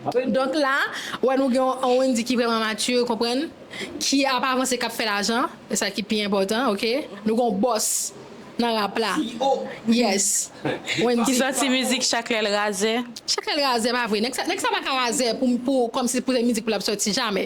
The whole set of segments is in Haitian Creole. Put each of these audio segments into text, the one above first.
Donk la, ou wè nou gen yon Wendy ki vrèman mature, konprann, ki ap avanse, k ap fè lajan, e sa ki pi enpòtan, ok. Nou gen yon bòs nan rap la. CEO! Yes! Wendy. Ki sòti mizik Chak lè l razè. Chak lè l razè pa vre. Nèg sa pa ka razè pou kòmsi pou se mizik pou l ap sòti, jamè.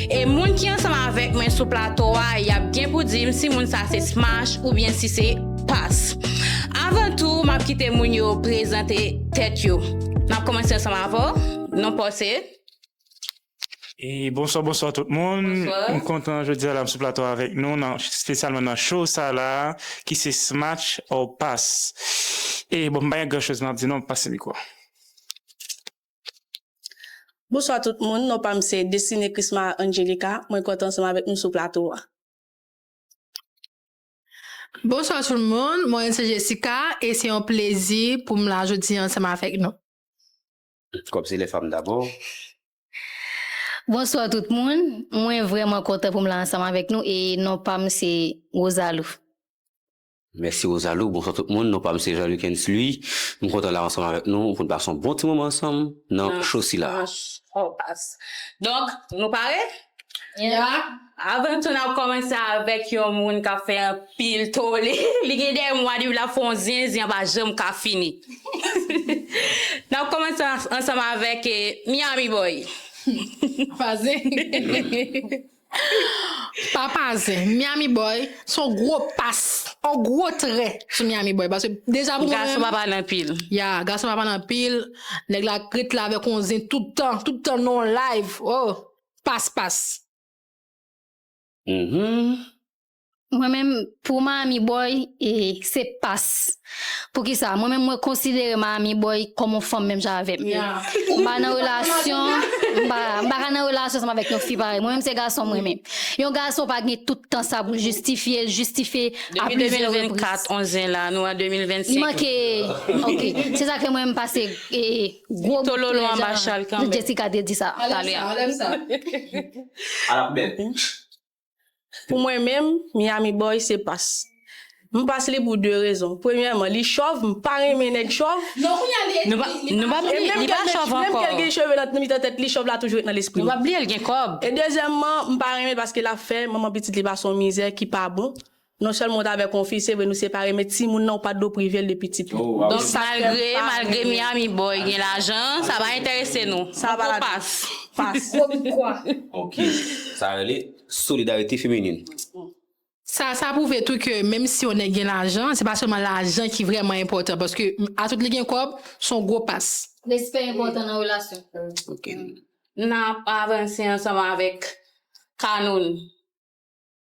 E moun ki ansanm avèk mwen sou plato a, y ap gen pou di m si moun sa se Smash oubyen si se Pass. Avan tou, m ap kite moun yo prezante tèt yo. M ap kòmanse ansanm avè w, non pa w se? Bonswa bonswa tout moun, m kontan jodi a la m sou plato a avèk nou nan spesyalman nan show sa la a ki se Smash or Pass. E bon m pa gen gran choz m ap di non, m ap pase mikwo a. Bonswa tout moun, non pam se Destine Christma Angelica, mwen kontan ansanm avèk nou sou plato a. Bonswa tout moun, mwen se Jessica e se yon plezi pou m la jodi an ansanm avèk nou. Kòb se lè fanm dabò. Bonswa tout moun, mwen vrèman kontan pou m la ansanm avèk nou e non pam se Rosalou. Mèsi Rosalou, bonswa tout moun, non pam se Jean Lucken's Louis, m kontan la ansanm avèk nou pou n pase yon bon ti moman ansanm nan show sila. Donk nou pare? Avan tou nap kòmanse avèk yon moun kap fè anpil tole, li gen 2 mwa depi lap fè yon zen, zen an pa janm ka fini. Nap kòmanse ansanm avèk Miami Boy. Papa zen, Miami boy se yon gwo pas, yon gwo trè sou Miami boy paske deja pou mwen menm. Gason pa pale anpil. Ya, gason pa pale anpil, nèg la ret la avèk yon zen tout tan, tout tan nan yon live, oh! Pas pas. Humm Mwen menm pou Miami boy se pas poukisa mwen menm mwen konsidere Miami boy kòm yon fanm menm jan avèm m pa nan relasyon m pa ka nan relasyon ansanm avèk yon fi parèy mwen menm se gason m renmen yon gason pa gen tout tan sa pou l jistifye l jistifye a plizyè repriz li manke ok se sa k fè mwen m pase gwo bout jan Jessica te di sa talè a. Pou mwen menm, Miami Boy se Pass. M Pass li pou 2 rezon. Premyèman, li chòv, m pa renmen nèg chòv. Non kounya li li pa chòv. Nou pa bliye l li pa chòv ankò. Menm ke l gen cheve nan mitan tèt li, chòv la toujou ret nan lespri m. Nou pa bliye l gen kòb. E dezyèmman, m pa renmen l paske l ap fè manman pitit li pase yon mizè ki pa bon. Non sèlman ou ta avèk yon fi se vre nou separe men timoun nan ou pat dwe privel de pitit li. Donk malgre malgre Miami boy gen lajan sa pa entèrese nou. Sa pa la pass. Boricua. Ok sa rele solidarite feminin. Sa sa prouve tou ke menm si yon nèg gen lajan se pa sèlman lajan ki vrèman enpòtan paske a tout li gen kòb son gwo pass. Respè enpòtan nan relasyon. Ok. Nap avanse ansanm avèk Canoun.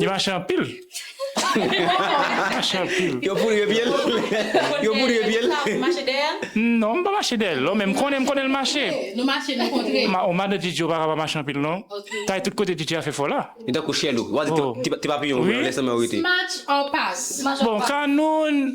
Li mache anpil. Li mache anpil. Yo poudre pye l? Yo poudre pye l? Ou mache dèyè l? Non, m pa mache dèyè l non, men m konnen, m konnen l mache. Nou mache nou kontre. O madan Djidji ou pa ka pa mache anpil non. Kay tout kote Djidji a fè fò la. Li tankou chèlou. Ou pa di ti papiyon ou vre, lè sa menm ou rete. Smatch or pass? Bon, Kanoun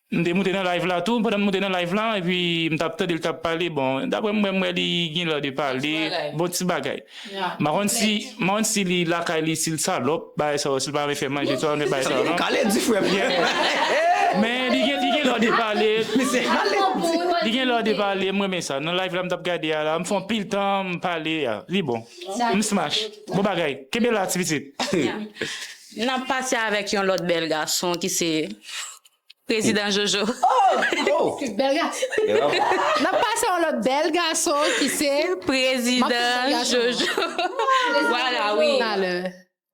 M te moute nan live la tou pandan m moute nan live la epi m tap tande li tap pale bon daprè m wè m wè li ginlè de pale bon ti bagay m pa konn si m pa konn si li lakay li si l salòp bagay sa yo si l pa renmen fè manje sa yo men bagay sa yo non men li gen li ginlè de pale li ginlè de pale m renmen sa nan live la m tap gade a la m fè anpil tan m pale a li bon m smash bon bagay kenbe la ti pitit. Nap pase avèk yon lòt bèl gason ki se Prezidan Jojo. N ap pase yon lòt bèl gason ki se. Prezidan Jojo. Vwala wi.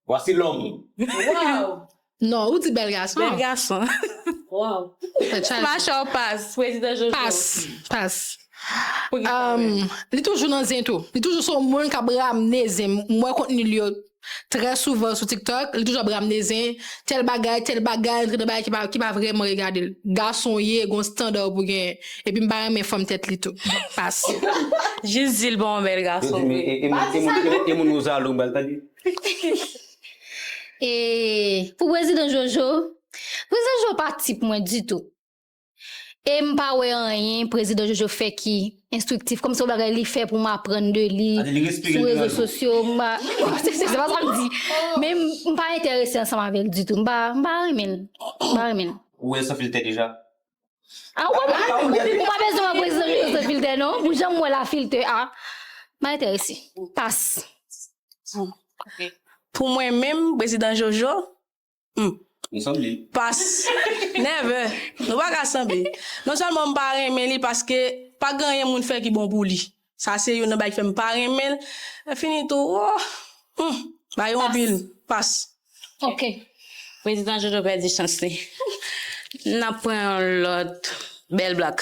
Vwasi lòm. Waw. Non, ou di bèl gason. Bèl gason. Waw. Mache w pas. Prezidan Jojo. Pas. Pas. Li toujou nan zen tou. Li toujou se yon moun k ap ramne zen. M wè kontni l yo. Trè souvan sou tiktok li toujou ap ramne zen, tèl bagay, tèl bagay, antre nan bagay ki pa vrèman regade l. Gason w ye, gon standa w pou genyen. Epi m pa renmen fanm tèt li tou. Pase. Jis di l pa yon bèl gason vre. Pa di sa non. E moun Rosalou bal tande. E pou prezidan jojo. Prezidan jojo pa tip mwen ditou. E m pa wè anyen Prezidan Jojo fè ki enstriktif, kòm se yon bagay li fè pou m aprann de li sou rezo sosyo, m pa, se pa sa m di, men m pa enterese ansanm avè l ditou, m pa renmen l, m pa renmen l. Ou wè l san filtè deja? A ou pa bezwen wè Prezidan Jojo san filtè non, pou jan m wè l a filtè a, m pa enterese, pas. Pou mwen menm, Prezidan Jojo, Humm. Nou sanble. Pas. Never. Nou pa ka sanble. Non sèlman m pa renmen li paske pa gen anyen moun fè ki bon pou li. Sa se youn nan bagay ki fè m pa renmen l. Lè fini tou woo. Humm. Bagay yo anpil. Pas. Ok. Prezidan Jojo pèdi chans li. N ap pran yon lòt bèl blak.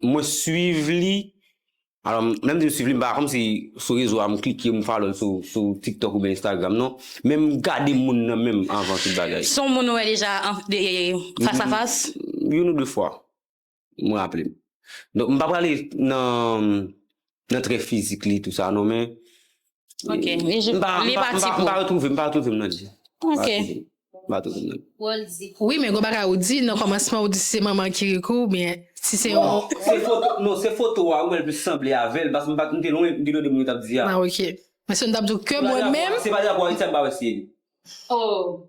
Mwen swiv li, alò lè m di m swiv li m pa kòm si sou rezo a m klike m follow l sou tiktok oubyen instagram non, men m gade moun nan menm anvan tout bagay. Son w moun ou wè deja fas a fas? Youn ou de fwa, m raple m. Donk m pa prale nan Nan trè fizik li tout sa non men. Ok, li jis, li pa ti pou. M pa retwouve, m pa retwouve m nan li. Ok. M pa retwouve m nan li. Wi men gon bagay ou di nan kòmansman ou di si se manman Kirikou oubyen si se yon. Non se foto a wi mwen plis sanble avèl paske m pa, m te lwen m te tande moun yo t ap di a. Ah ok. Paske m t ap di w ke mwen menm. Se pa drapo Ayiti a m pa wè si e li. Oh.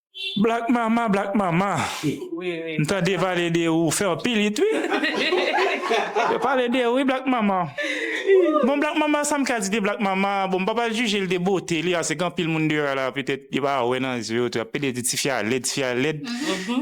Black mama black mama m tande pale de ou fè anpil it wi yo pale de ou wi black mama bon black mama sam ka di de black mama bon m pa pral jijel de bote li ase gen anpil moun deyò la petèt yo pa wè nan zye yo tou yap pede di tifi a lèd tifi a lèd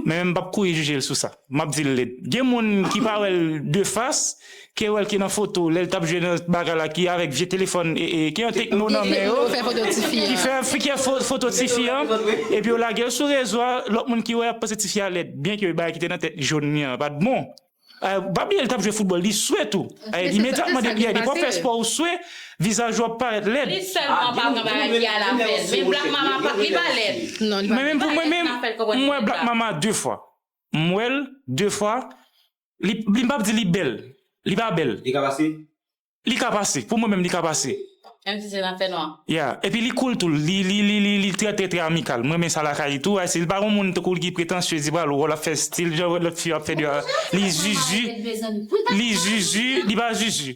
men m pap kouri jijel sou sa. Map dil led. Gen moun ki pa wèl de fas, ke wèl ke nan foto lèl tap jwe nan bagay la ki avèk vye telefòn ki an tekno nan men yo ki fè fike foto tifi an epi yo lagel sou rezo a lòt moun ki wè ap panse tifi a lèd byen ke bagay ki te nan tèt jhon li an pat bon pa bliye li tap jwe foutbòl li swe tou imedyatman depi a depi wap fè spò ou swe vizaj ou ap parèt lèd mwen menm pou mwen menm mwen wè black mama 2 fwa. m wè l de fwa li m pap di li bèl li pa bèl Li ka pase? Li ka pase pou mwen menm li ka pase Menm si se nan fè nwa? Ya epi li cool tou li li li li li trè trè trè amikal m renmen sa lakay li tou ayisyen li pa yon moun tankou l ki pretansye di pral wè l ap fè stil jan lòt fi yo ap fè li pa li zuzu li zuzu li pa zuzu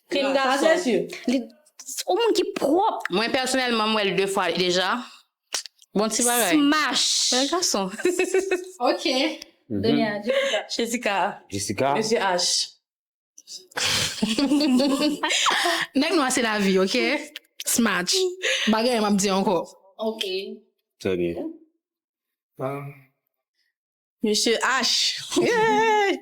Klin gason. Ou moun ki pwop. Mwen pèsonèlman m wèl 2 fwa deja bon ti bagay. Smash. Bèl gason. Ok Donia Jessica. Jessica. Mesye Ash. Nèg nwa se lavi ok smash pa gen anyen map di ankò. Ok. Trè byen. Misye Ash eehh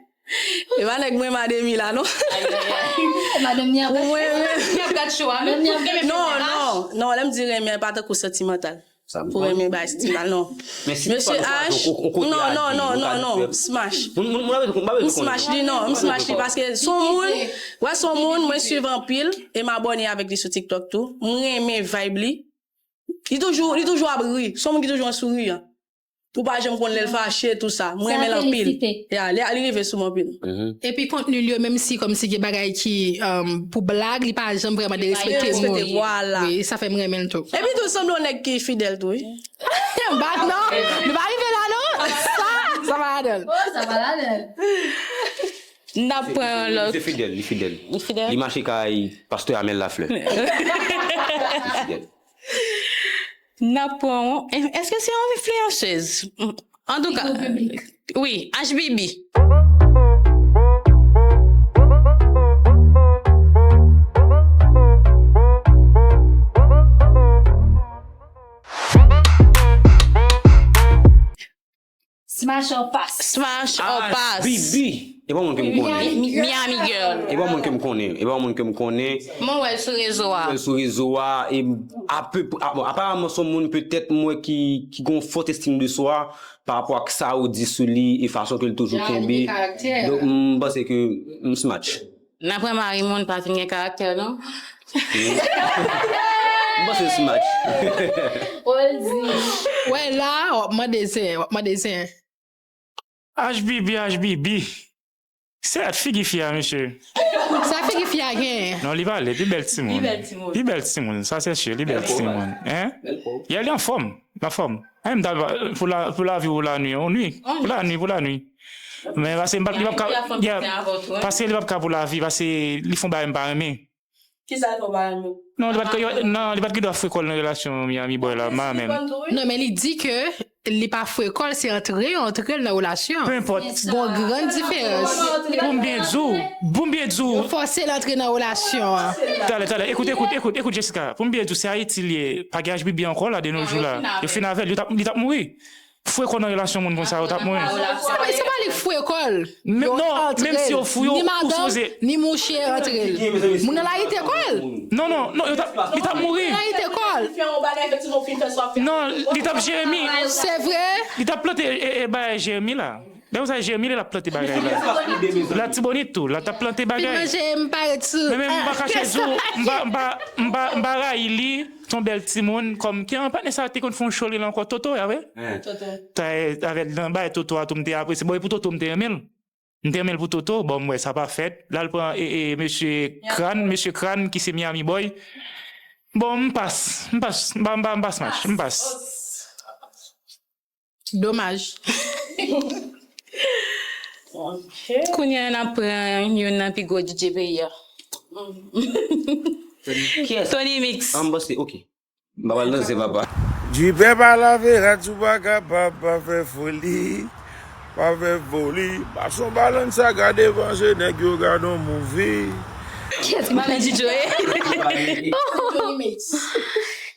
e pa nèg mwen mademi la non pou mwen renmen non non non lèm di renmen pa tankou santimantal pou renmen bay santimantal non mesye Ash non non non non non m smash m smash li non m smash li paske son moun wè son moun mwen swiv anpil e m abòne avèk li sou tiktok tou m renmen vibe li li toujou ap ri son moun ki toujou an souriyan. Ou pa janm konn lèl fache tout sa. M renmenl anpil. Yeah li rive sou m anpil. Epi kontenil yo menm si kòmsi gen bagay ki pou blag li pa janm vrèman derespekte moun wi sa fèm renmenl tou. Epi tou sanble yon nèg ki fidèl tou wi. Ba non nou pa rive la non sa pa ladanl. Oh sa pa ladanl. M tap pran yon lòt. Li fidèl li fidèl. Li mache kay pastè Amel Lafleur. Li fidèl. Nap pran w eske se yon enfliyansez antouka wi ashbibi. Smash or pass. Smash or pass. Ah bibi e pa w moun ke m konnen. Miami girl. E pa w moun ke m konnen. E pa w moun ke m konnen. Mwen wè l sou rezo a. Mwen wè l sou rezo a e ape pre bon aparamman son moun petèt m wè ki ki gen yon fort estime de soi pa rapò ak sa ou di sou li e fason ke l toujou kenbe. Jan li gen karaktè. Donk m panse ke m smatch. Nanpwen mari moun pa fin gen karaktè non. M panse se match. Paul di. Wè la wap mande zen wap mande zen. Ashbibi ashbibi se at figi fi a mesye. Sa figi fi a genyen. Non li pale pi bèl timoun. Pi bèl timoun sa se su li bèl timoun hein. Yeah li anfòm anfòm. Anh m ta pou lavi ou la nwi ou nwi pou la nwi pou la nwi. Men pase m pap li pap ka Pase li pap ka pou lavi Pase li fon bagay m pa renmen Kisa li fon pa renmen Non li pat non li pat gen dwa fwe kòl nan relasyon Miami boy la ma menm Non men li di ke li pa fwe kòl se antre yo antrel nan relasyon Peu enpòt Gon gran diferans Poum byen di w Poum byen di w Yo fòse l antre nan relasyon an Talè talè ekout ekout ekout ekout Jessica Poum byen di w se Ayiti li ye pa gen HBB ankò la de nos jours la Yo fin avèl li tap li tap mouri Frekò nan relasyon moun konsa yo tap mwen. Konnen se pa li k frekol yo antrel ni madanm ni mouche antrel moun nan layite kòl non non non yo tap li tap mouri non li tap jeremi se vre li tap plante bagay jeremi la. Danm sa jermine lap plante bagay la latibonit tou la tap plante bagay men men mpa kache diw mpa rayi li son bèl timoun kòm ki an patnè sa te konn fon cho li la ankò toto ya wi avèl nan bagay toto a tou mte apresye bon epou toto mte renmenl mte renmenl pou toto bon mwè sa pa fèt lal pran mesye kran mesye kran ki se miami boy bon mpas mpas mpa mpa mpas mach mpas. Domaj. Kounye a n ap pran youn nan pi gwo DJ peyi a. Tony Mix. Jipè pa lave rad ou pa kapab pa fè foli Pa fè foli Pase yon balansaka devan je nèg yo gad yon movie. Kèt malè DJ yo ye. Tony Mix.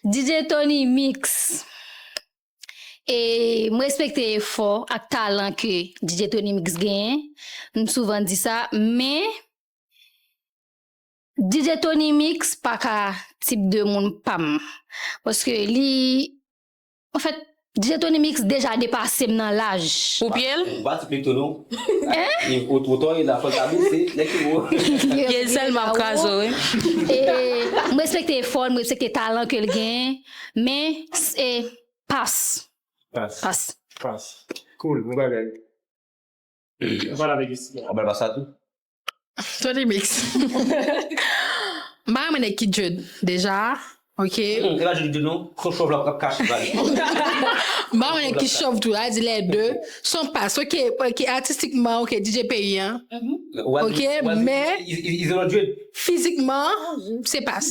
DJ Tony Mix. E m respekte efò ak talan ke DJ Tony Mix genyen, m souvan di sa, men DJ Tony Mix pa ka tip de moun pa m. Paske li, an fèt, DJ Tony Mix deja depase m nan laj. Pou pye l? Ba ti pye tou non. Hein? Ou two tall e la fol ka bese, nèg ki wo. Pye l sèlman ap kraze w wi. E m respekte efò l, m respekte talan ke l genyen. Men se pas. Pas. Pas. Pas. Cool, bon bagay. Ou pale avèk Esthie a. Ou bal pas la tou? Ton Remix. M pa renmen nèg ki djed deja ok. Humm epa djed li di non, son chòv la kap kache vag li. M pa renmen nèg ki chòv tou, la di lè de, son pas ok, ok atistikman ok DJ peyi an ok men. Izolan djed. Fizikman se pas.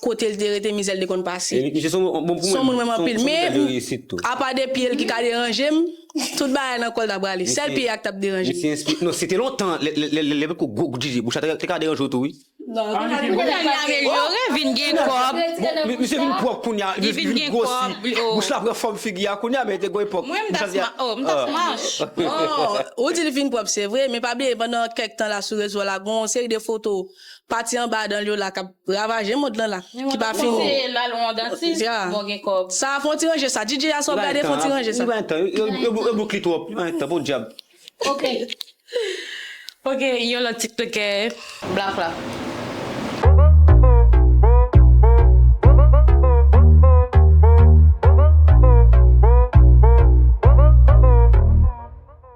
Kotel te rete mizèl te konn pase. Misye son moun bon pou mwen. Son moun menm anpil men apa de pyel ki ka deranjem tout bagay nan kòl ta prale sèl pye a ki tap deranjem. Misye enspire non se te lontan lè poko gwo kout jije bouch la te ka deranjew tou wi. Kounya li amelyore vin gen kòb. Misye vin pwòp kounya li vin gwosi bouch la pran fòm figi a kounya men te gon epòk bouch la te oh m ta smash oh. Ou di li vin pwòp se vre men pa bliye pandan kèk tan la sou rezo la gon seri de foto. Pati anba dan l yo la k ap ravaje mond lan la ki pa fini. Mwen panse l al wè yon dantis bon gen kòb. Sa a fon ti ranje sa DJ a sa wap gade fon ti ranje sa. Li bay tan yo boukli twòp li bay tan podyab. Ok ok yon lòt tiktokè black la.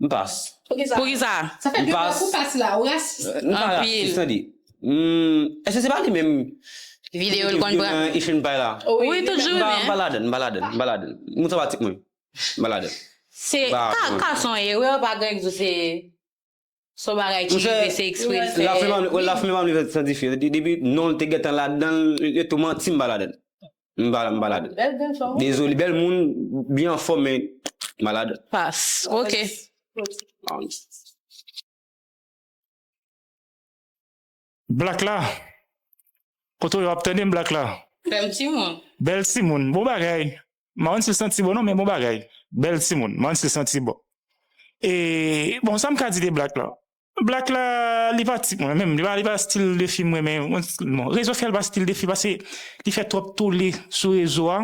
M pas. Poukisa? Sa fè 2 fwa pou pas la, ou rasis. M pa rasis tande. Èske se pa li menm ki te vyolan Ifin Pay la? Wi tout jour li menm. M pa ladann, m pa ladann, m pa ladann. Moun sa pa tip mwen. M pa ladann. Se pa ka son erè pa gen ki di se son bagay ki rive se ekspre l fè. Laflima m li fè san dife. Depi non l te gentan ladann, yo tou manti m pa ladann. M pa la, m pa la. Bèl bèl fanm. Dezole bèl moun, byen anfòm men malad. Pas. Ok. Black la? Kote w ye wap tande m Black la? Bèl timoun. Bèl timoun. Bon bagay. M pa konn si l santi bon non men bon bagay. Bèl timoun. M pa konn si l santi bon. E bon sa m ka di de Black la? Black la li pa tip mwen menm li pa stil de fi m renmen bon rezo sòsyal pa stil de fi pase li fè twòp tole sou rezo a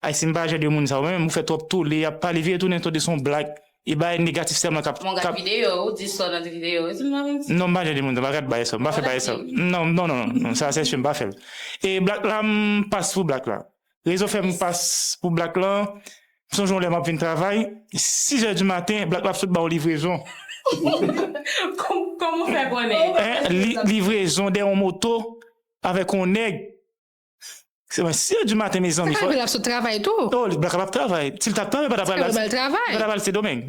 ayisyen m pa jan de moun sa yo menm ou fè twòp tole yap pale vire tounen tande son black e bagay negatif sèlman kap Mwen gad videyo ou di sò nan videyo ou m pa konn si non m pa jan de moun sa m pa gad bagay sa m pa fè bagay sa non non non sa sèchè m pa fè l e black la m pas pou black la. Rezo fèm pas pou black lan, m sonje yon lè map vin travay, 6 zè di maten black la ap sot baw livrezon. Kòman ou fè konnen? Hein livrezon dèyè yon moto avèk yon nèg, se mwen 6 zè di maten mezanmi. Sa ka rive lap sot travay tou. Oh black la pap travay, sil tap travay li pa tap al St. Domeng.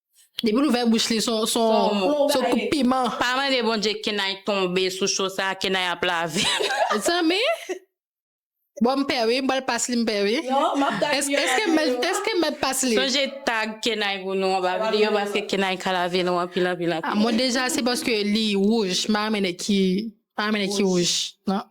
Depi l ouvè bouch li son koup piman. Pa mande Bondye Kenay tonbe sou show sa, Kenay ap lavi. Zanmi Bon m pè wi m pral pas li m pè wi Eske m mèt pas li? Sonje tag Kenay pou nou anba video paske Kenay ka lavi nou anpil anpil anpil. Mwen deja se paske li wouj m pa renmen nèg ki wouj nan.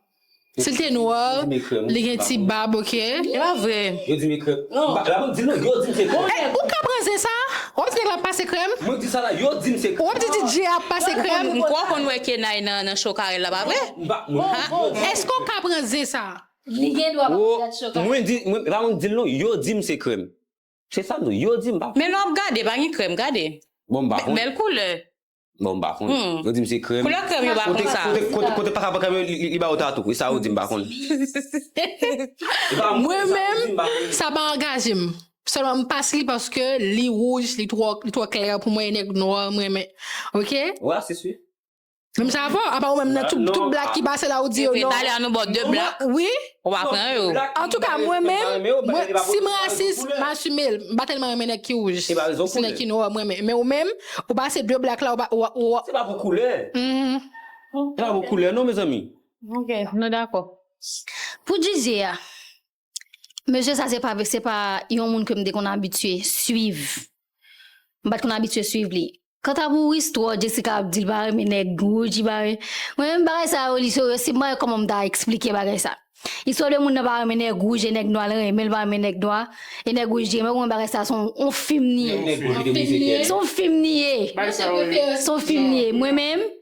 Sil te noir li gen ti bab ok. E pa vre. Yo dim e krèm. Non. La banm dil nan yo dim se krèm. Hey ou ka pran zen sa? Wap di nèg la pase krèm? Mwen di sa la yo dim se krèm. Wap di DJ a pase krèm? M kwè w konn wè Kenay nan show Carel la pa vre? M pa m pa konn. Eske w ka pran zen sa? Li gen dwa pa konn gad show Carel. Mwen di e pa mwen k dil non yo dim se krèm. Se sam di w yo dim m pa konn. Men lè wap gade pa gen krèm gade. Bon m pa konn. Bèl koulè. Bon mpa konn. Yo dim se krèm. Koulè krèm yo pa konn sa. Kote paka pran krèm yo li bayo tatou. E sa ou di mpa konn. Mwen menm sa pa angaje m. Selman m pas li paske li wouj li tro klè pou mwen e nèg nwa m renmen. Ok. Ou rasis wi. Menm sa pa apa ou menm nan tout blak ki pase la ou di yo non. Epi talè a nou baw 2 blak. Wi. Ou pa pran yo. Antouka mwen menm, mwen, si m rasis, m asime l, m pa tèlman renmen nèg ki wouj, si nèg ki nwa m renmen. Men ou menm, ou pase de black la ou pa, ou, ou. Se pa pou koulè. Se pa pou koulè non mezanmi. Ok, nou dakò. Pou Djidjie a, mesye sa se pa, se pa yon moun ke m te konn abitye swiv. M pat konn abitye swiv li. Kanta pou Wisthor, Jessica ap di l pa renmen nèg wouj li pa renmen. Mwen menm bagay sa yo li serye si m pa gen kòman m ta eksplike bagay sa. Istwa de moun nan pa renmen nèg wouj e nèg nwa l renmen l pa renmen nèg nwa e nèg wouj di renmen l ou konn bagay sa son on fim li ye. Son fim li ye. Son fim li ye. Mwen menm.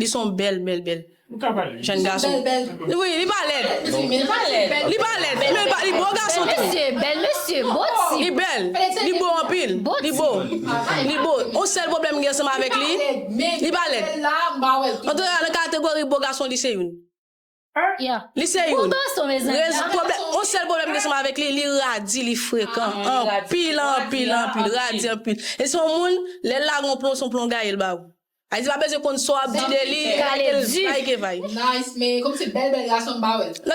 Li son bèl bèl bèl Jenn gason Wi li pa lèd Li pa lèd Menl pa li bon gason tou Li bèl Li bo anpil Li bo Li bo On sèl pwoblèm m gen ansanm avèk li Li pa lèd Antouka nan kategori bo gason li se youn. Li se youn On sèl pwoblèm ke seman avèk li Li radi li frekan Anpil anpil anpil Radi anpil E son moun lèl lage yon plon son plon gayel ba ou Ayiti pa bezwen konn sa wap di de li Kalel vay ke vay Nan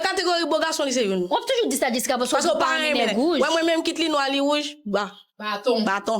kategori bo gason li se youn Paske ou pa renmen Wè mwen menm kit li nwa li wouj Baton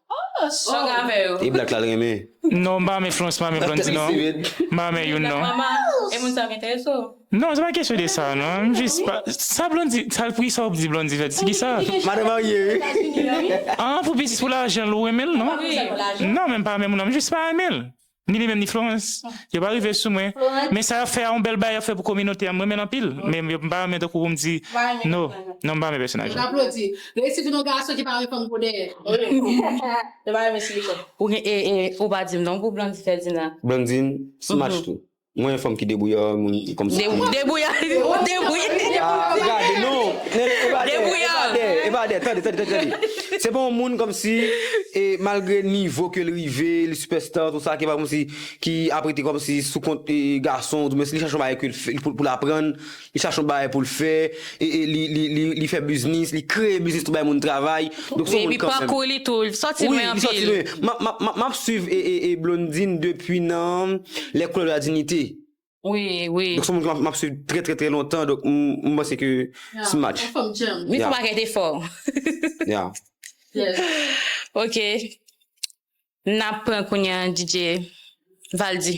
E black la l renmen. Non m pa renmen flons m pa renmen blondy non m pa renmen youn non non se pa kesyon de sa non m jis pa sa blondy sa l pri sa w ap di blondy fè di ki sa Madan marye wi. An pou biznis pou lajan l ou renmen l non non men m pa renmen moun nan m jis pa renmen l. Ni li menm ni Florence. Yo pa rive sou mwen. Men sa yap fè a yon bèl bagay yap fè pou kominote a m renmen l anpil men yo m pa renmen tankou pou m di no non m pa renmen pèsonaj la. Ou pa dim non pou Blandine Ferdinand. Blandine smash tou. Mwen yon fanm ki debouye oh moun kòm si. Debouye debouye. Ah gade non nene epa de epa de epa de tande tande tande se pa yon moun kòm si e malgre nivo kel rive li sipèsta tout sa ki pa kòm si ki ap rete kòm si sou kont gason ou di mwen si li chache yon bagay kel fè poul aprann Li chache yon bagay pou l fè, li fè biznis, li kreye biznis tou bay moun travay. Donk son moun kanmèm. Epi pakou li tou, li sòti lwen anpil. Wi, li sòti lwen. Map swiv Blondine depi nan Les couleurs de la dignité. Wi, wi. Donk son moun ke map swiv trè trè trè lontan, donk m panse ke se match. Fòm djanm. Li fè bagay te fò. Ya. Yes. Ok. Nap pran kounye an DJ Valdy.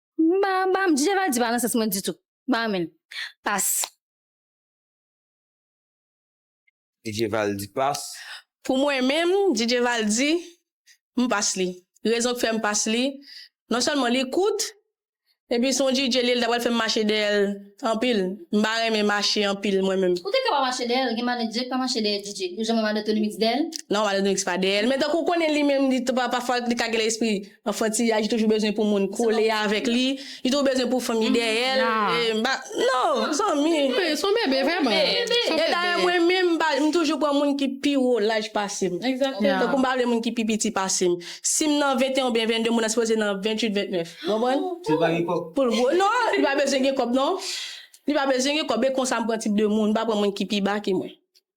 Mpa mpa DJ valdy pa nan sans mwen ditou mpa renmenl pas. DJ valdy pas. Pou mwen menm DJ valdy mpas li rezon k fèm pas li non sèlman li kout epi son DJ li el ta pral fèm mache dèyèl anpil mpa renmen mache anpil mwen menm. Ou te ka pa mache dèyèl gen manager ki pa mache dèyè DJ ou janm wè manatonymix dèyèl? Non manatonymix pa dèyèl men tankou ou konnen li menm li pafwa li ka gen lespri. Anfantiyaj toujou bezwen pou moun kole avèk li, li toujou bezwen pou fanmi dèyè l, m pa, non, zanmi. Wi, s on bebe vrèman. E dayè mwen menm m toujou pran moun ki pi wo laj pase m. Tankou m pa vle moun ki pi piti pase m. Si m nan 21 oubyen 22 moun nan sipoze nan 28, 29. Ou konprann? Si l pa gen kòb. Pou l gwo. Non, li pa bezwen gen kòb non. Li pa bezwen gen kòb. E konsa m pran tip de moun. M pa pran moun ki pi ba ke mwen.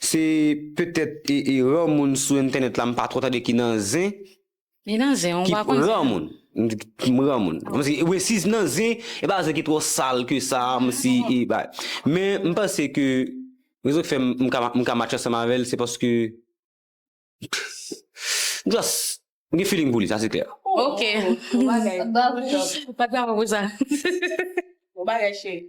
Se petèt eran moun sou entènèt la m pa twò tande ki nan zen. Li nan zen ou pa konn zen an. M ran moun. Wi si nan zen e pa zen ki twò sal ke sa m si e bay. Men m panse ke rezon ki fè m ka match ansanm avèl se paske m just m gen feeling pou li sa se klè. Ok. Bon bagay. Pat bravo pou sa. Bon bagay cheri.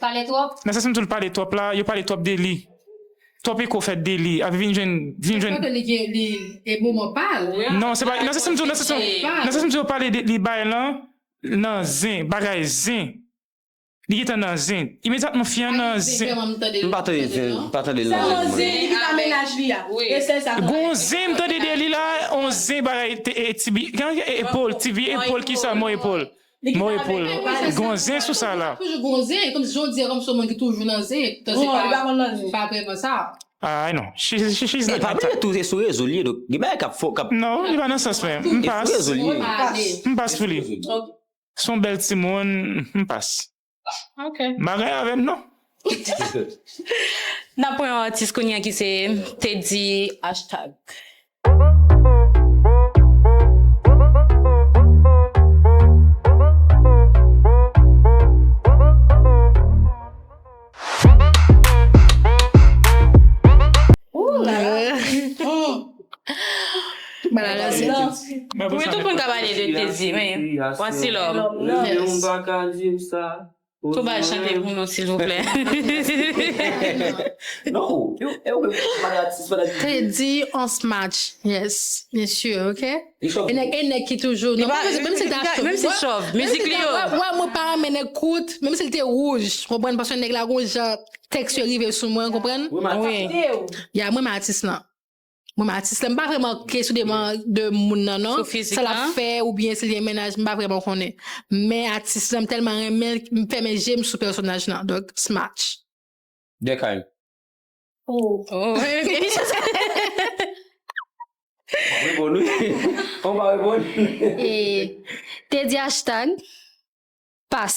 Pale twòp. Nan sa sim toul pale twòp la yo pale twòp deli twòp eko fèt deli ap vin jwenn vin jwenn. Paske li gen li e moman pal. Non se pa nan sa sim diw nan sa sim diw yo pale li bay lan nan zen bagay zen li gentan nan zen imedyatman fi an nan zen. M pa tande zen m pa tande nan zen mwen non. Gon zen m tande deli la on zen bagay tibi epol tibi epol kisa mo epol. Moy poul gon zen sou sa la. Ay non she's not that type. Non li pa nan sans mwen m pas. M pas pou li. Son bèl timoun m pas. Ok. Bagay avèm non. Nap pran yon atis kounya ki se Teddy hashtag. Malalèz lan. Wi tout moun ka pale de teddy men wasilòm tou bal chante pou nou silvouplè. Teddy on smatch yes byen sur ok e nèg ki toujou menm sil ta chòv menm sil chòv mizik li yo wè mwen pa renmen nèg kout menm sil te wouj konprann paske nèg la gon jan tèks yo rive sou mwen konprann ya mwen renmen atis lan. Mwen menm atis la, m pa vrèman kesyon de man, de moun nan non. Sou fizik lan? Sa l ap fè ou byen si l gen mennaj, m pa vrèman konnen. Men atis lan, m tèlman renmen l, m fèmen je m sou pèsonaj lan. Donk, Smatch. Durkheim. Oh. Oh, ok. Ou pa reponn wi. Ou pa reponn. E, te di hashtag, pas.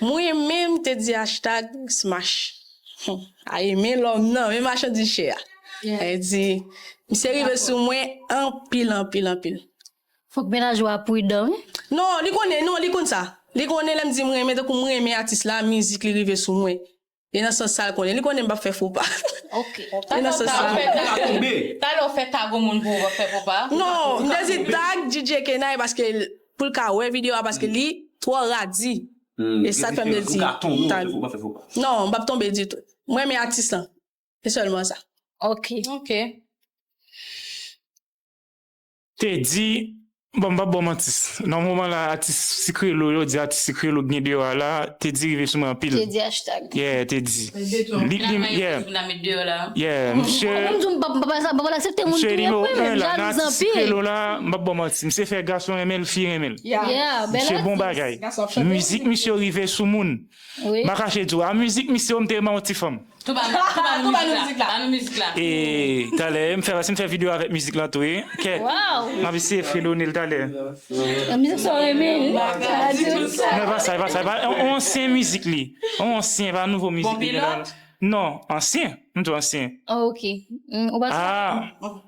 Mwen menm te di hashtag Smach Aye men lòm nan, men machandiz chè a. Aye di, misye rive sou mwen anpil anpil anpil. Fòk mennaj ou a pridan wi. Non li konnen non li konn sa li konnen lèm di mrenmen tankou mrenmen atis la mizik li rive sou mwen. E nan sans sa l konnen. Li konnen m p ap fè fo pa. Ok. E nan sans sa. Talè w fè tag yon moun pou ou pa fè fo pa? Non, m te di tag DJ Kenay paske pou l ka wè videyo a paske li twò radi. E sa k fè m te di tag. Non, m p ap tonbe ditou. M renmen atis lan. Se sèlman sa. Ok. Ok. Te di, bon m pap ba w manti, nan moman la atis sikre lo yo di atis sikre lo gnyn deyò a la te di rive sou mwen anpil. Te di hashtag. Yeah te di. Li li m yeah. Yeah misye. Ou menm tou m pap m pap pral asepte moun touye m wi men jalouz anpil. Misye di nou 1 la nan atis sikre lo la m pap ba w manti misye fè gason renmen l fi renmen l. Yeah bel atis. Misye bon bagay. Mizik misye rive sou moun. Ma kache di w a mizik misye yo m te renmen yon ti fanm. Tou ba nou tou ba nou mizik la ba nou mizik la. E talè m fè si m fè video avèk mizik lan tou e kèt m ap eseye fredone l talè. Yon mizik sa w renmen wi. Pa ka di tout sa. Non e pa sa e pa sa e pa sa yon ansyen mizik li yon ansyen e pa nouvo mizik li. Bon pilòt? Non ansyen m di w ansyen. Ok ou pa. Aa.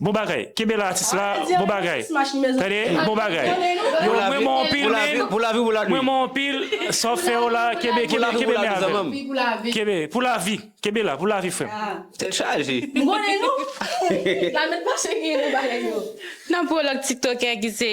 Bon bagay kenbe la atis la bon bagay tande bon bagay yo mwen renmen w anpil men mwen renmen w anpil sa w fè yo la kenbe kenbe kenbe men avè l kenbe pou lavi kenbe la pou lavi frè m. Tèt chaje. Nan pwològ tiktokè ki se.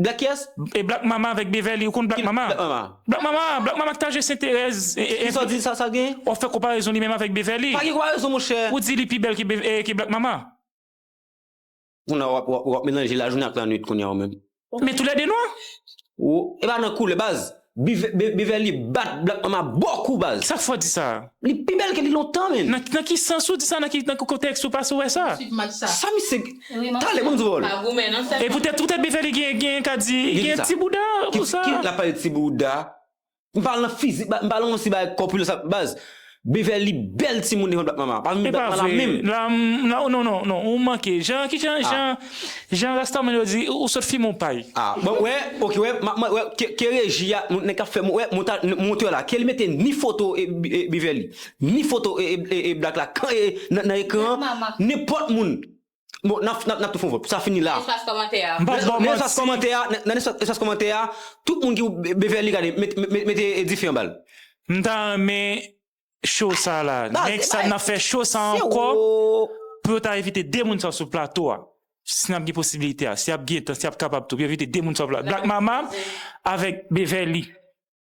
Black yes? E black mama avèk Beverly ou konn black mama? Black mama black mama ki t al jwe senterèz e Sa w di sa sa gen? Wap fè konparezon li menm avèk Beverly. Pa gen konparezon monchè. Ou di li pi bèl ke black mama. Kounye a wap melanje lajounen ak lanwit kounye a ou menm. Men tou lè 2 nwa. Ou epa nan koulè baz. Beverly bat black mama bon kou baz. Sak fè w di sa a? Li pi bèl ke li lontan menn. Nan ki sans ou di sa nan ki kontèks ou pase wè sa. Sa misye gen talè banm di wòl. E poutèt poutèt Beverly gen gen ka di li gen ti bouda pou sa. Ki lap pale ti bouda m pale nan fizik m pale nan yon ti bagay kòpilans baz Beverly bèl timoun devan bat mama. Pa vin bat mama la menm. Epa vre la non non non ou manke jan kijan jan jan rastaman yo di ou sot fimen ou pay. Ah bon wè ok wè map mande wè ke reji a nèg kap fè wè monteur la kel mete ni foto Beverly ni foto black la nan ekran nenpòt moun. Bon nap nap tou fon vòt pou sa fini la. Nan espas kòmantè a. Mpa baw manti. Nan espas kòmantè a nan espas kòmantè a tout moun ki ou Beverly gade mete dife anbal. M ta renmen show sa la next time nap fè show sa ankò pou yo ta envite 2 moun sa sou plato a si nap gen posibilite a si ap gentan si ap kapab tou pou yo envite 2 moun sa black mama avèk Beverly.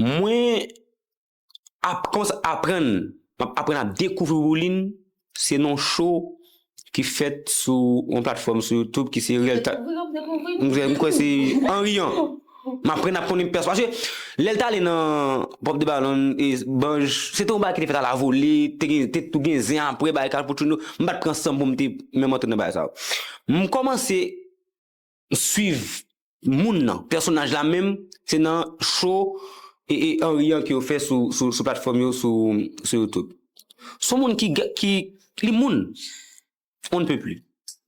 Mwen ap konsa aprann, m ap aprann ap dekouvri Roulin, se non show ki fèt sou yon platfòm sou youtube ki se Reel Talent. Dekouvri ou ap dekouvri m? M kwè se Henry an. M aprann ap konnen pèsonaj, paske lè l t ale nan Bob the Ballon e Banj, se te yon bagay ki te fèt ala vole, te gen te tou gen zen aprè bagay Carl Putruno, m pa t pran san m pou m te menm antre nan bagay sa yo. M kòmanse m swiv moun nan, pèsonaj la menm se nan show Henry an ke yo fè sou platfòm yo sou youtube. Son moun ki li moun on ne peut plus.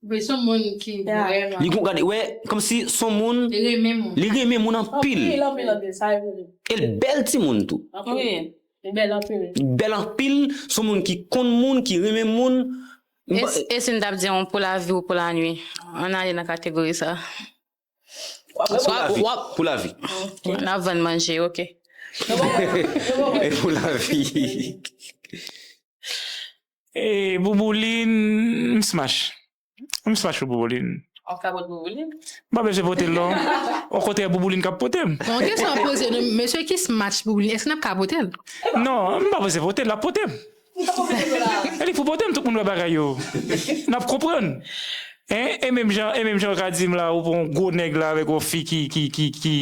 Wi son moun ki vrèman. Li gon gade wè komsi son moun. Li renmen moun. Li renmen moun anpil. Anpil anpil anpil sa yo vre. E l bèl ti moun tou. Anpil. Li bèl anpil. Li bèl anpil son moun ki konn moun ki renmen moun. E si m tap di yon pou lavi ou pou lanwi? An ale nan kategori sa. Pou lavi. N ap vann manje ok. E pou lavi. E boubouline m smash. M smash pou boubouline. Ou ka pot boubouline? M pa bezwen pote l non. Ou kontrè boubouline k ap pote m. Bon kesyon m poze nou mesye ki smash boubouline eske n ap ka pote l? Non m pa bezwen pote l l ap pote m. An li pou potem tout moun wè bagay yo nap konprann hein e menm jan e menm jan ou ka dim la ou pran yon gwo nèg la avèk yon fi ki ki ki ki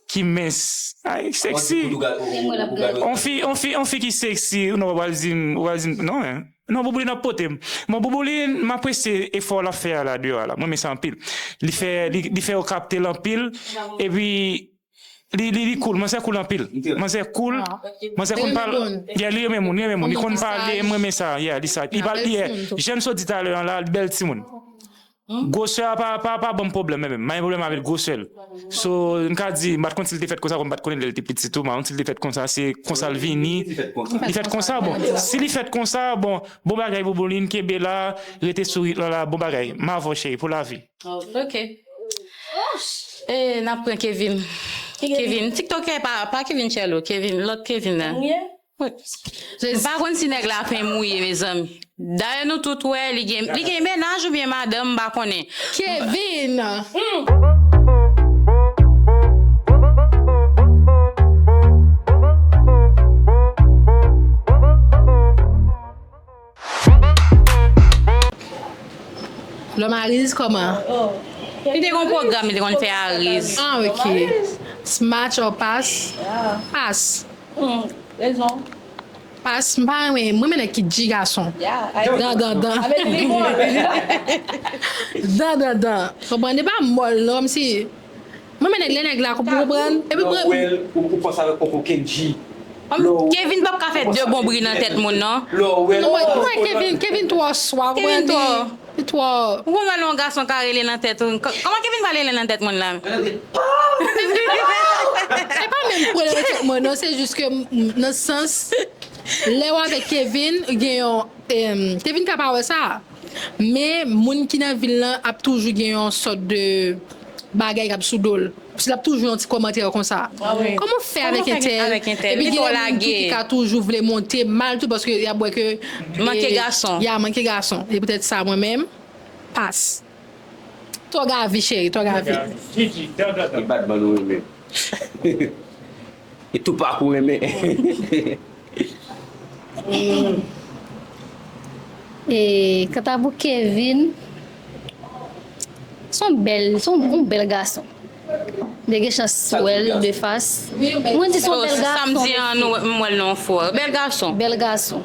ki mens ay sexy yon fi yon fi yon fi ki sexy non wap pral dim ou pral dim non hein non Boubouline ap potem bon Boubouline m apresye efò lap fè a la deyò a la m renmen sa anpil li fè li fè ou kaptel anpil epi Li li li cool, manzè cool anpil. Manzè cool, manzè konn pal. Yeah, li renmen moun, li renmen moun. Li konn pale, m renmen sa. Yeah, li sa. Li pal yeah. Jan m sot di talè an la, li bèl timoun. Gwosè a pa pa pa banm pwoblèm menm. M pa gen pwoblèm avè l gwosè l. So, m ka di, m pa t konn si l te fèt konsa, kòm m pa t konnen l lè l te piti tou. M pa konn si l te fèt konsa, se konsa l vini. Li fèt konsa, bon. Si li fèt konsa, bon, bon bagay Bouboulin, kenbe la, rete souri, lala, bon bagay. M avè w cheri pou lavi. Ok Eeh nap pran Kevin Kevin tiktokè pa Kevin Chelo Kevin lòt Kevin nan M pa konn si nèg la pen mouye mezanmi Dayè nou tout wè li gen mennaj oubyen madanm m pa konnen Kevin. Lòm ariz kòman? Li te gon pwogram li te konn fè ariz. Ah ok. S match or pas? Pas. Humm rezon. Pas m pa renmen m renmen nèg ki dji gason. Dan dan dan. Dan dan dan. Konprann e pa mòl non kòmsi. Mwen men nèg lè nèg la pou konprann epi pou reponn. Lò wèl ou panse avèk poko kendji lò ou. Kevin pap ka fè 2 bon bri nan tèt moun non. Lò wèl ou panse avèk poko kendji. Kevin twò swa ou konprann li twò. Ou konprann lè yon gason ka rele nan tèt ou kòman kevin pral rele nan tèt moun la menm. Se pa menm pou rele nan tèt mwen non se jis ke nan sans lèw avèk kevin gen yon kevin ka pa wè sa. Men, moun ki nan vil lan ap toujou gen yon sòt de bagay k ap sou do l. Paske l ap toujou yon ti kòmantè konsa. Kòman w fè avèk entèl? Epi gen lè moun tou ki ka toujou vle monte mal tou paske y ap wè ke. Manke gason. Ya, manke gason. Se poutèt sa mwen menm, pas. Tòg avi cheri, tòg avi. Tòg avi. Jiji, dòdòdò. Ki batman nou renmen? E tou pakou renmen. E kanta pou Kevin, se yon bèl, se yon bèl gason. Mwen te gen chans wè l de fas. Mwen di se yon bèl gason. Sa m di an, m wè l nan yon fwa. Bèl gason. Bèl gason.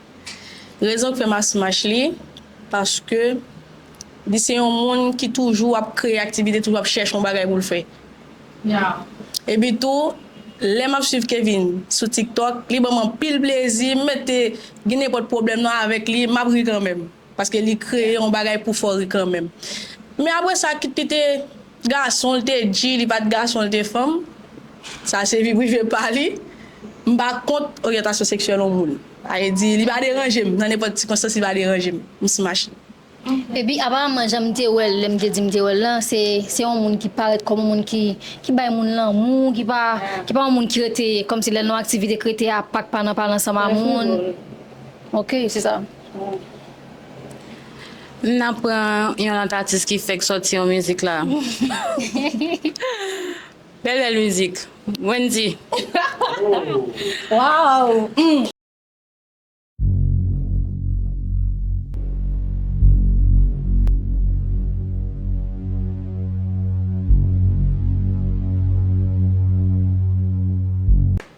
Rezon k fè m asmach li, paske li se yon moun ki toujou ap kreye aktivite, toujou ap chèche yon bagay pou l fè. Epi tou, lè m ap swiv Kevin sou TikTok, li ban m anpil plezi, m mèt gen nenpòt pwoblèm nan avèk li, m ap ri kanmenm. Paske li kreye yon bagay pou fori kanmenm. Men apre sa kit li te gason li te di li pat gason li te fanm sa se vi prive pa li. M pa kont oryantasyon seksyèl yon moun. Sa vle di li pa deranje m nan nenpòt sikonstans li pa deranje m. M smash li. Epi aparamman jan m te wèl lè m te di m te wèl lan se se yon moun ki parèt kòm yon moun ki ki bay moun lanmou ki pa ki pa yon moun ki rete kòmsi lè l nan yon aktivite k rete apak pa nan pale ansanm a moun. Ok se sa. M nan pran yon lot atis ki fek soti yon mizik la. Bel bel mizik. Wendy. Waww.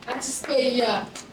Atis peyi a.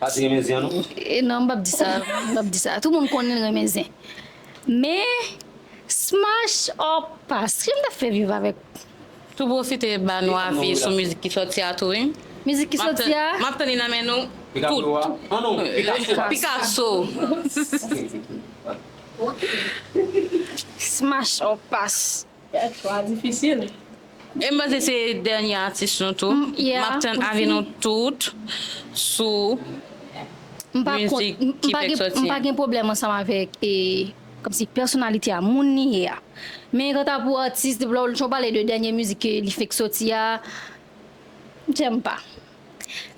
Pati renmen zen an non. E nan m pap di sa, m pap di sa. Tout moun konnen l renmen zen. Men, smash or pass, ki jan m ta fè viv avèk. Tou pwofite ba nou avi sou mizik ki sòti a tou wi. Mizik ki sòti a? M ap tann li nan men nou tout. Pikaso a? Smash or pass. Kèk chwa difisil. M panse se dènye atis nou tou. M ap tann avi nou tout sou mizik ki fèk soti an. M pa gen pwoblèm ansanm avèk kòmsi pèsonalite a, moun li ye a. Men kanta pou atis, depi lè w pale de dènye mizik li fèk soti a, m tèlman pa.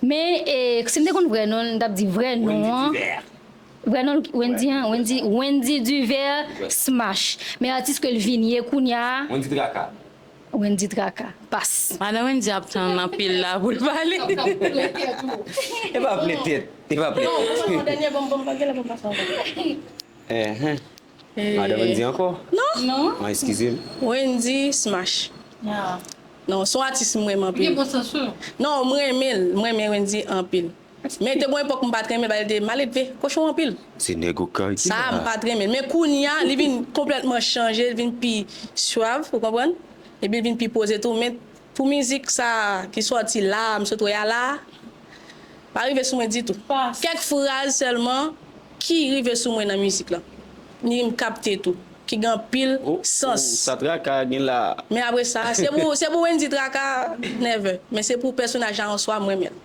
Men si m te konn vrè non l, m t ap di vrè non an, vrè non l Wendy an, Wendy, Wendy Duvert Smash. Men atis ke l vin ye kounya a, Wendy Traka. Wendy Traka. Pas. Madan Wendy ap tann anpil la pou l pale. L ap ple tèt ou. E pa ple tèt, e pa ple tèt. Bon, m pran yon dènye, bon, m pa gen lè pou m pase yon dènye. Enh. Madan Wendy ankò? Non. An eskize m. Wendy smash. Non, son atis m renmen anpil. Li gen bon sans wi. Non, m renmen l. M renmen Wendy anpil. Men te gon epòk m pa t renmen l paske l te maledve, kochon anpil. Se nèg okay ki la a. Sa m pa t renmen l. Men kounya li vin konplètman chanje, li vin pi suave, ou konprann? Epi li vin pi poze tou. Men Pou mizik sa ki sòti la a m sot wè a la a, pa rive sou mwen ditou. Kèk fraz sèlman ki rive sou mwen nan mizik lan, ni m kapte tou, ki gen anpil sans. Ohh sa Traka gen la a? Men apre sa, se pou Wendy Traka nève, men se pou pèsonaj la an swa m renmen l.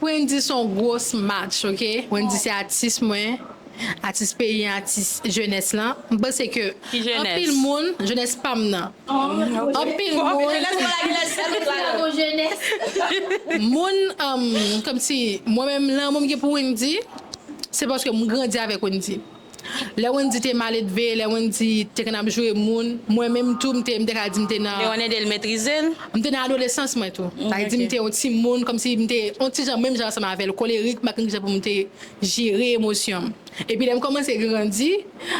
Wendy son gros match ok Wendy se atis mwen atis peyi an atis jenès lan m panse ke anpil moun jenès pam nan anpil moun moun kòmsi mwen menm lanmou m gen pou Wendy se paske m grandi avèk Wendy. Lè Wendy te maledve, lè Wendy te konn ap joure moun, mwen menm tou m te ka di m te nan. Leon ede l metrize l. M te nan adolesans mwen tou. Sa vle di m te yon timoun, kòmsi m te yon ti jan menm jan ansanm avè l, kolerik, m pa t konn ki jan pou m te jere emosyon m. Epi lè m kòmanse grandi,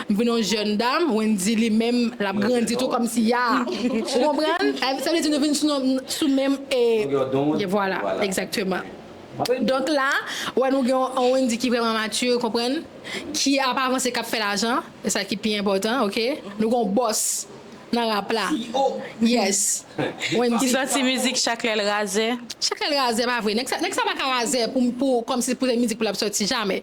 m vin yon jèn dam, Wendy li menm l ap grandi tou kòmsi a. Ou konprann? Sa vle di nou vin sou menm. Longueur d'onde. Vwala, egzakteman. Donk la, ou wè nou gen yon Wendy ki vrèman mature, konprann, ki ap avanse, k ap fè lajan, e sa ki pi enpòtan, ok. Nou gen yon bòs nan rap la. CEO! Yes! Wendy. Ki santi mizik Chak lè l razè? Chak lè l razè pa vre. Nèg sa pa ka razè pou kòmsi pou se mizik pou l ap sòti, jamè.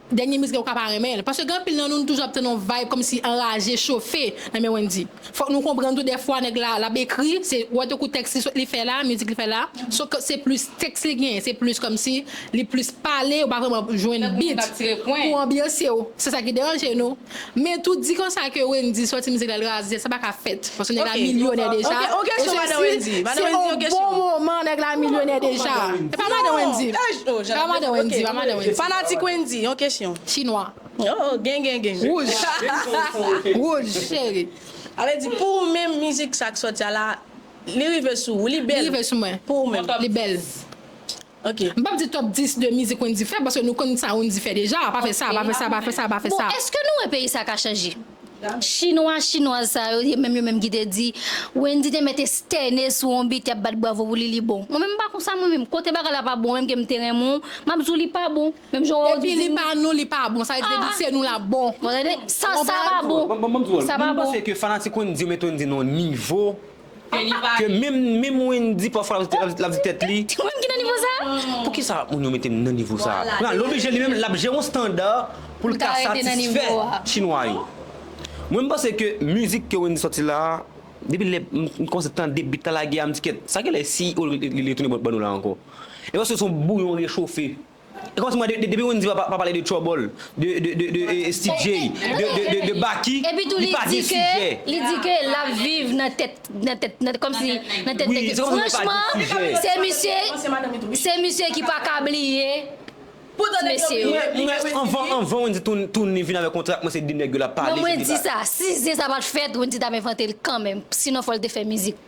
Dènye mizik la ou ka pa renmen l, paske gen anpil nan nou nou toujou ap tann yon vibe kòmsi anraje, chofe nan men Wendy. Fòk nou konprann tou dèfwa nèg la lap ekri se wè tankou tèks li sot li fè la, mizik li fè la, so ke se plis tèks li genyen, se plis kòmsi li plis pale ou pa vrèman jwenn beat pou anbyanse w, se sa ki deranje nou. Men tou di konsa ke Wendy soti mizik la li raze sa pa ka fèt paske nèg la milyonè deja e sesi se yon bon moman nèg la milyonè deja e pa madan Wendy e pa madan Wendy e pa madan Wendy Fanatik Wendy yon kesyon Chinwa Wouj Wouj cheri A vle di pou ou menm mizik sa k soti a la li rive sou ou li bèl Li rive sou mwen Pou ou menm Li bèl Ok. M pap di top 10 de mizik Wendy fè paske nou konn sa Wendy fè deja, pa fè sa, pa fè sa, pa fè sa, pa fè sa. Bon eske nou wè peyi sa ka chanje? Chinwa, chinwaz sa yo ye menm yo menm ki te di Wendy te mèt estène sou yon bit yap bat bwavo pou li li bon. Mwen menm m pa konsa mwen menm. Kote bagay la pa bon menm ke m te renmen w, map di w li pa bon. Menm jan wè w di Depi li pa nou li pa bon, sa vle di depi se nou lap bon. Bon tande, sa sa pa bon. Bon m di w, mwen m panse ke fanatik Wendy yo met Wendy nan yon nivo ke li pa Ke menm menm Wendy pafwa lap di tèt li. Ou menm ki nan nivo sa? Poukisa moun yo metem nan nivo sa? Pran l oblije li menm lap jere yon standar poul ka satisfè chinwa yo. Mwen m panse ke mizik ke Wendy sòti la a depi lè m kòmanse tande beat la lage a m di kèt sa genlè si li retounen ban nou la ankò. E paske son bouyon rechofe. E kòmanse mwen depi moun di pa pale de trouble, de Steve Jay, de Baky, li pa gen sijè. Epitou li di ke lap viv nan tèt nan tèt nan kòmsi nan tèt nèg yo. Franchman se misye se misye ki paka bliye ti mesye yo. Mwen anvan Wendy tounen vin avèk yon trak mwen se de nèg yo lap pale. Non mwen di sa si zen sa pat fèt Wendy tap envante l kanmenm sinon fòl te fè mizik.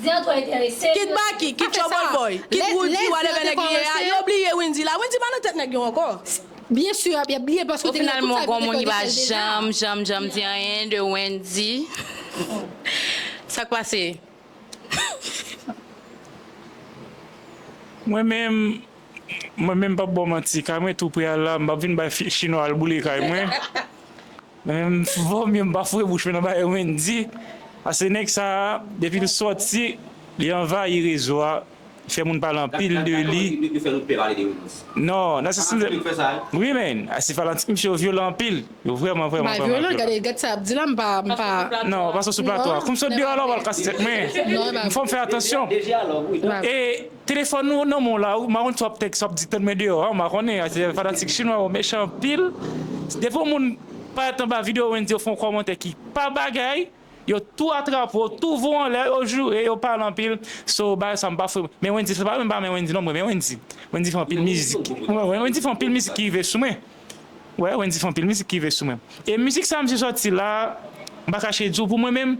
Zen an twò enterese. Kit Baky, kit Trouble Boy, kit Roody whatever nèg li ye a, yo bliye Wendyy la. Wendyy pa nan tèt nèg yo ankò. Byen sûr ap yap bliye paske depi nan tout sa yo te fè Michel deja. Au final mwen gon moun ki pa janm janm janm di anyen de Wendyy. Sak pase? Mwen menm, mwen menm pap baw manti, kay mwen tou pre al la, m pap vin bay fi chinwa al boule kay mwen. Menm vo mye m pa foure bouch mwen nan bagay Wendy pase nèg sa depi l sòti li anvayi rezo a li fè moun pale anpil de li non Narcisse wi men Narcisse fanatik misye yo vyolan anpil yo vrèman vrèman vyolan non pase w sou plato a kou m sot deyò la w pral kase tèt mwen fò m fè atansyon e. Telefòn ou nan menw la ou maron sa wap tèks wap di tann mwen deyò an mpa konnen aze fanatik chinwa yo mechan anpil depi yon moun parèt anba video Wendy yo fè yon kòmantè ki pa bagay yo tou atrape w tou voye w anlè yo joure yo pale anpil so bagay sa mpa fre men Wendy se pa menm pa renmen Wendy non mwen renmen Wendy Wendy fè anpil mizik Wendy fè anpil mizik ki rive sou mwen wè Wendy fè anpil mizik ki rive sou mwen e mizik sa misye sòti la mpa kache di w pou mwen menm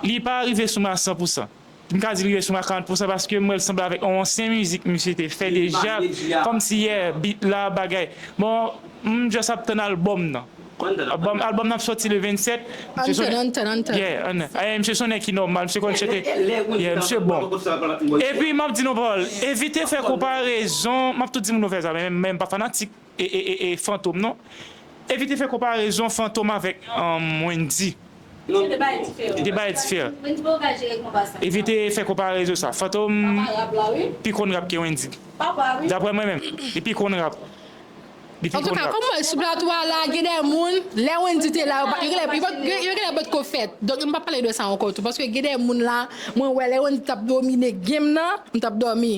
li pa rive sou mwen a 100 pou 100. M ka di li reson a 40 pousan paske m wè l sanble avèk yon ansyen mizik misye te fè deja kòmsi yè beat la bagay bon m just ap tann album nan album nan ap sòti le 27 misye sonnen yeah misye sonnen ki nòmal misye konn chante yeah misye bon epi m ap di nou yon pawòl evite fè konparezon m ap tou di moun yo fè sa men m pa fanatik e fantom non. Evite fè konparezon fantom avèk wendy. Non yo 2 bagay diferan. 2 bagay diferan. Wendy pa ka jere konpa sa. Evite fè konparezon sa. Fantom pi konn rap ke wendy. Daprè mwen menm. Li pi konn rap. Li pi konn rap. Antuka sou plato a la gen 2 moun lè wendy te la yo genlè potko fèt. Donk m pap pale de sa ankò tou. Paske gen 2 moun la mwen wè lè wendy tap domine game nan m tap dòmi.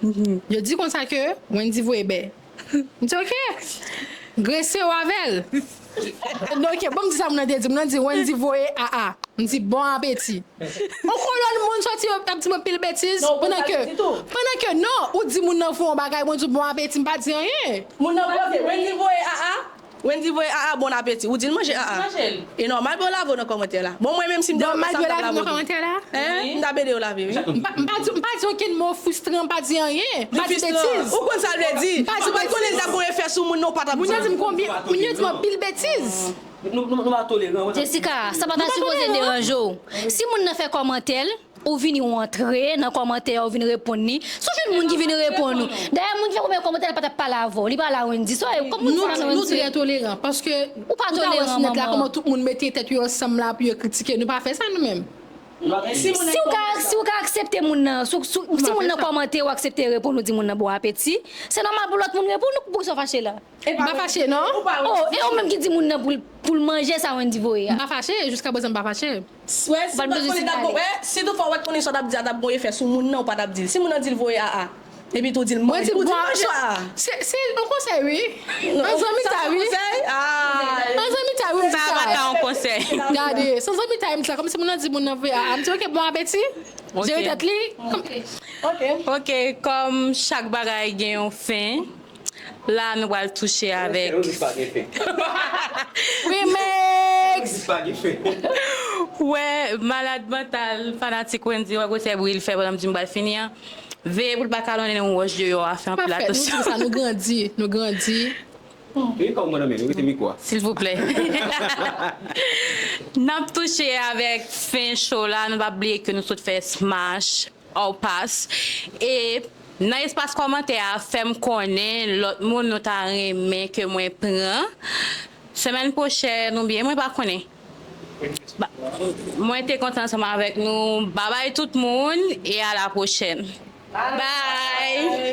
Yo di konsa ke Wendy voye bè. M di ok. Grese w avè l. Ok, banm di sa moun nan te di. Moun nan di Wendy voye aa. M di bon apeti. On kolonn moun soti yo ap di m anpil betiz. Non, ou konn sa yo di tou. Pandan ke non, ou di moun nan fè yon bagay, mwen di w bon apeti, m pa di anyen. Moun nan poze, Wendy voye aa? Wendy voye aa bon apeti. Ou dil manje aa. E nòmal pou yo lave w nan kòmantè la. Bon mwen menm sim te wè konsa m tap lave w tou. M tap ede yo lave wi. M pa di okenn mo frustran m pa di anyen. M pa di betiz. Ou konn sa l vle di. Si w pat konnen l tap gon efè sou moun non w pa tap di. Moun yo di m anpil betiz. Nou pa toleran. Jessica, sa pa ta sipoze deranje w. Si moun nan fè kòmantè l. Ou vini ou antre nan kòmantè ya ou vini reponn li sou jwenn moun ki vini reponn ou dayè moun ki fè premye kòmantè li pa tap pale avèw li pale a Wendy sa wè kòm moun sa pa nan Wendy. Nou trè toleran paske ou pa wè sou nèt la kòman tout moun mete tèt yo ansanm la pou yo kritike nou pa fè sa nou menm. Siw ka aksepte moun nan si moun nan kòmante ou aksepte reponn ou di moun nan bon apeti se nòmal pou lòt moun reponn ou poukisa ou fache la. Epi pa fache non. Oh e ou menm ki di moun nan poul poul manje sa Wendy voye a. M pa fache, jiska prezan m pa fache. Swè si ou pat konnen tap gon eh si tou fwa wè t konnen sa tap di a tap gon efè sou moun nan ou pa tap dil si moun nan dil voye aa epi tou dil manje ou dil manje aa se se yon konsèy wi an zanmitay wi an zanmitay wi m di sa sa pa ta yon konsèy gade san zanmitay m di sa kòmsi moun nan di moun nan voye aa m di ok bon apeti jere tèt li ok kòm chak bagay gen yon fen. La a nou pral touche avèk Wè malad mantal fanatik Wendy wè gwosè bri l fè pandan m di m pral fini an Veye pou l pa kalonnen yon wòch deyò a Fè anpil atansyon silvouplè N ap touche avèk fen show la Nou pa bliye ke nou sot fè smash Our Pass e Nan espas kòmantè a fèm konnen lòt moun nou ta renmen ke mwen pran semèn pwochèn oubyen mwen pa konnen mwen te kontan ansanm avèk nou babay tout moun e a la pwochèn bye.